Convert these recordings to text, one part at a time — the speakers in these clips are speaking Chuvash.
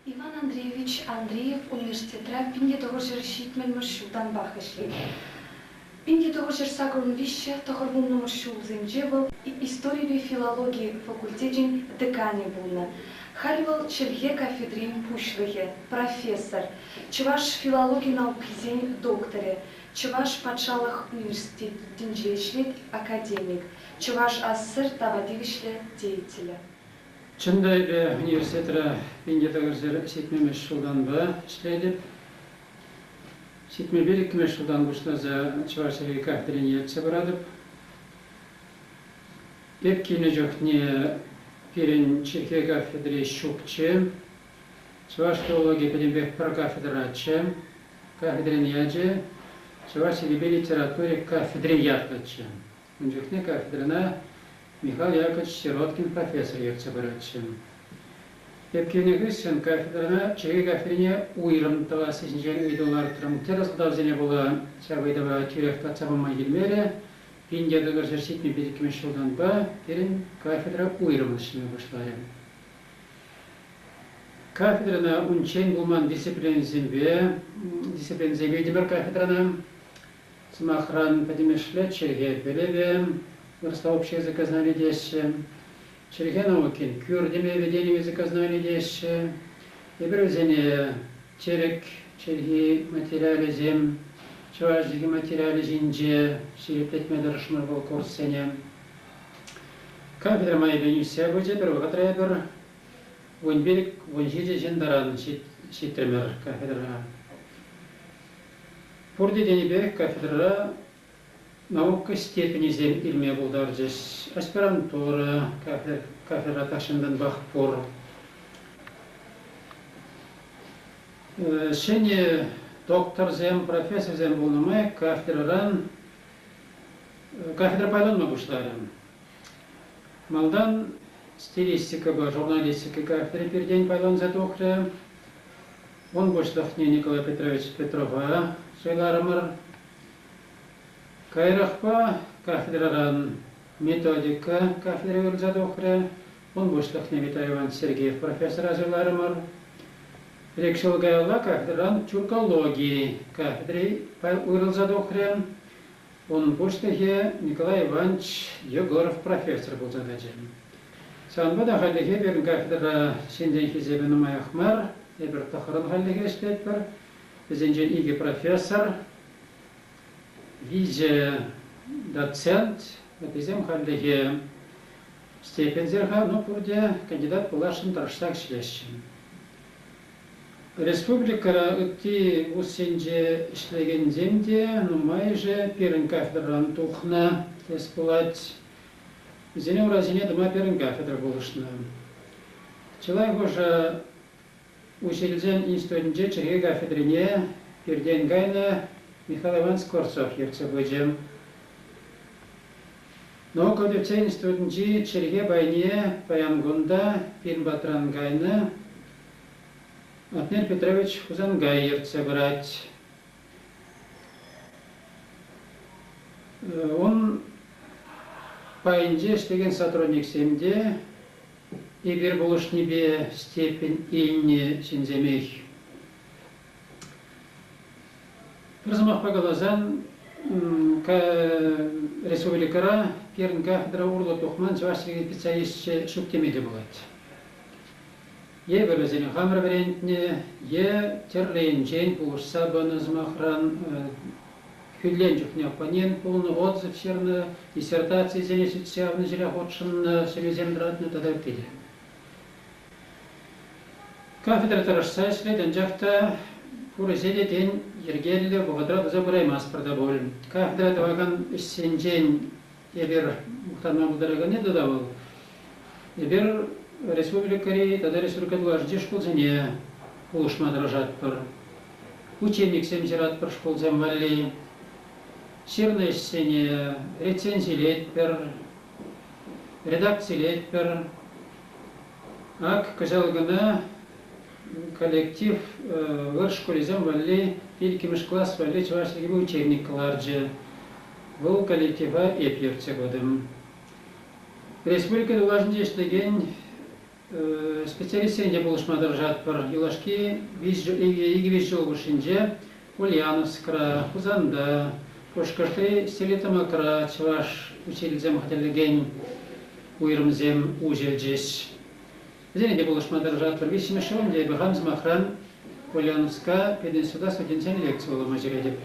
Иван Андреевич Андреев университетра пин те тӑхӑрҫӗр ҫитмӗлмӗш ҫултанпах ӗҫлет. Пин те тӑхӑрҫӗр сакӑрӑн виҫҫӗ тӑхӑрвуннӑмӗш ҫулсенче вӑл историпе филологи факультечӗн деканӗ пулнӑ. Халь вӑл чӗлхе кафедрин пуҫлӑхӗ, профессор, чӑваш филологи наукисен докторӗ, Чӑваш патшалӑх университетӗнче ӗҫлет, академик, чӑваш асср тава тивӗҫлӗ деятелӗ. Чӑн та, эпӗ университетра инке тӑкӑрсӑр ҫитмӗмӗш ҫултанпа ӗҫлетӗп. Ҫитмӗлпе икмӗш ҫултан пуҫласа Чӑваш Енри кафедрине ертсе пыратӑп. Эп килнӗ чухне пирӗн чӗлхе кафедри ҫукчӗ. Чӑваш филологийӗ пӗтӗмпех пӗр кафедраччӗ. Кафедрин ячӗ Чӑваш чӗлхипе литератури кафедри ятлӑччӗ. Ун чухне кафедрӑна Михал Якович Сироткин профессор ертсе пыратчӗ. Ӳпкенӗ хыҫҫӑн кафедрӑна чӗри кафедрине уйрӑм тӑвасси ҫинчен ыйту лартрӑм. Тӗрлӗ сӑлтавсене пула ҫак ыйтӑва тӳрех татса пама килмерӗ. Пин те тӑкӑр ҫӗр ҫитнӗ пилӗкмӗш ҫултанпа пирӗн кафедра уйрӑм ӗҫлеме пуҫларӗ. Кафедрӑна унччен пулман дисциплинӑсемпе дисциплинӑсем витӗмӗр кафедрӑна. Сӑмахран, пӗтӗмӗшле чӗлхе пӗлӗвӗ сообщество сознани теҫҫӗ. Чӗлхе наукин кӳр теме вӗренӗвӗ сознани теҫҫӗ. Эпир вӗсене тӗрӗк чӗлхи материалӗсем, чӑваш чӗлхи материалӗ ҫинче ҫирӗплетме тӑрӑшмӑр вӑл курссене. Кафедра майӗпен ӳссе пычӗ пӗр вӑхӑтра эпир вун пилӗк, вун ҫичӗ ҫын таран ҫитрӗмӗр кафедра. Пурте тенипех кафедрӑра наука степенӗсем илме пултарчӗҫ. Аспирантура кафедра тахҫантанпах пур. Ҫӗнӗ докторсем, профессорсем пулнӑ май кафедрӑран кафедра пайланма пуҫларӗ. Малтан стилистикӑпа журналистика кафедри пиртен пайланса тухрӗ. Вӑл пуҫлӑхне Николай Петрович Петрова суйларӑмӑр. Каярахпа кафедрӑран методика кафедри вырӑнса тухрӗ. Вӑл пуҫлӑхне Виталий Иванович Сергеев профессора суйларӑмӑр. Ик ҫул каялла кафедрӑран тюркологи кафедри вырӑнса тухрӗ. Унӑн пуҫлӑхӗ Николай Иванович Егоров профессор пулса тӑчӗ. Ҫавӑнпа та хальлӗхе пирӗн кафедра ҫынсен хисепӗ нумаях мар. Эпир тӑххӑрӑн хальлӗхе ӗҫлетпӗр. Вӗсенчен икӗ профессор, виҫӗ доцент, вӗсем хальлӗхе степеньсем-ха, ну пурте кандидат пуласшӑн тӑрӑшсах ӗҫлеҫҫӗ. Республикӑра ытти вуз енче ӗҫлекенсем те нумайӑшӗ пирӗн кафедрӑран тухнӑ тес пулать. Вӗсене урасене тӑма пирӗн кафедра пулӑшнӑ. Чылай хушӑ Уҫилсен институтӗнче чӗлхе кафедрине пиртен кайнӑ Михаил Иван Скворцов ертсе пычӗ. Наука тытсен институтӗнчи чӗлхе пайне паян кун та пин патран кайнӑ Атнер Петрович Хусанкай ертсе пырать. Ун пайӗнче ӗҫлекен сотрудниксем те эпир пулӑшнипе степень илнӗ ҫынсемех. Пӗр сӑмахпа каласан, республикӑра пирӗн кафедра урлӑ тухман чӑваш чӗлхи специалисчӗ ҫук теме те пулать. Эпӗ вӗсене хамӑр вӗрентнӗ е тӗрлӗ енчен пулӑшса пынӑ сӑмахран хӳтӗлен чухне оппонент пулнӑ, отзыв ҫырнӑ, диссертацисене сӳтсе явнӑ ҫӗре хутшӑннӑ, сӗнӳсем тӑратнӑ тата ытти те. Кафедра тӑрӑшса ӗҫлет, анчах та пурӗҫе те тен йӗркеллӗ вӑхӑтра туса пыраймастпӑр та пуль. Кафедра тӑвакан ӗҫсенчен Эпир мухтанма пултараканни тата вӑл. Эпир республикӑри тата республика тулашӗнчи шкулсене пулӑшма тӑрӑшатпӑр. Учениксем ҫыратпӑр шкулсем валли. Ҫырнӑ ӗҫсене рецензилетпӗр, редакцилетпӗр. Ак кӑҫал кӑна коллектив вырӑс шкулӗсем валли, иккӗмӗш класс валли чӑваш чӗлхи учебник ларчӗ. Вӑл коллектива эп ертсе пытӑм. Республика тулашӗнче ӗҫлекен специалистсен те пулӑшма тӑрӑшатпӑр. Юлашки икӗ виҫ ҫул хушшинче Ульяновскра, Хусанта, Пушкӑртри Селитамакра чӑваш учительсем хатӗрлекен уйрӑмсем уҫӑлчӗҫ. Вӗсене те пулӑшма тӑрӑшатпӑр. Виҫҫӗмӗшшӗн те эпӗ хам сӑмахран Ульяновска пединститута студентсен лекци вулама ҫӳретӗп.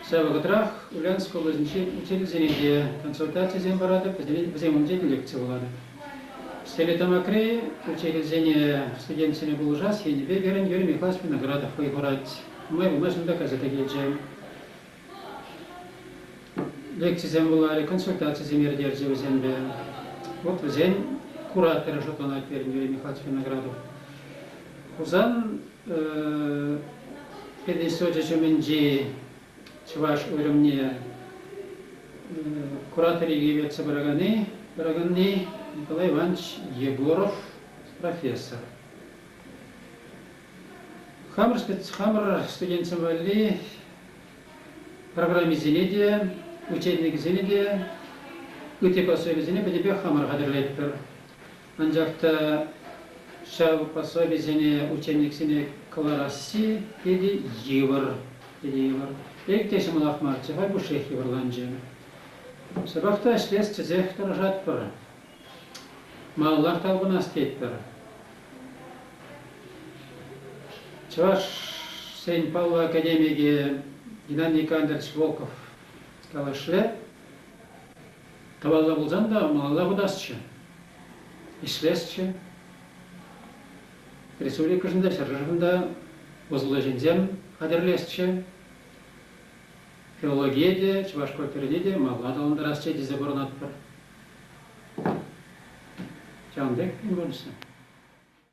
Ҫав вӑхӑтрах Ульяновск облаҫӗнчи учительсене те консультацисем паратӑп, вӗсем умӗнчен лекци вулатӑп. Стелетамакри учительсене студентсене пулӑшас енӗпе пирӗн Юрий Михайлович Виноградов вӑй хурать. Май пулмашӑн та кайса та килчӗ. Лекцисем вуларӗ, консультацисем иртерчӗ вӗсемпе. Вот вӗсен кураторӗ шутланать пирӗн Юрий Михайлович Виноградов. Хусан э, пединститучӗ ҫумӗнчи чӑваш уйрӑмне куратори ертсе пыраканни, пыраканни Николай Иванович Егоров, профессор. Хамӑр, хамӑр студентсем валли программисене те, учебникӗсене те, ытти пособисене пӗтӗмпех хамӑр хатӗрлетпӗр. Анчах та ҫав пособисене учениксене кӑларасси питӗ йывӑр, питӗ йывӑр. Пек те ҫӑмӑлах марччӗ, хай пушшех йывӑрланчӗ. Ҫапах та ӗҫлес тесех тӑрӑшатпӑр. Малаллах талпӑнас тетпӗр. Чӑвашсен паллӑ академикӗ Геннадий Кондратьевич Волков калашле, Тӑвалла пулсан та малалла путасчӗ, ӗҫлесчӗ. Республикӑшӑн та, ҫӗршывӑн та усӑллӑ ҫынсем хатӗрлесчӗ. Филологие те, чӑваш культурине те малла аталантарасчӗ тесе пурӑнатпӑр. Ҫавӑн пек ун пурнӑҫӗ.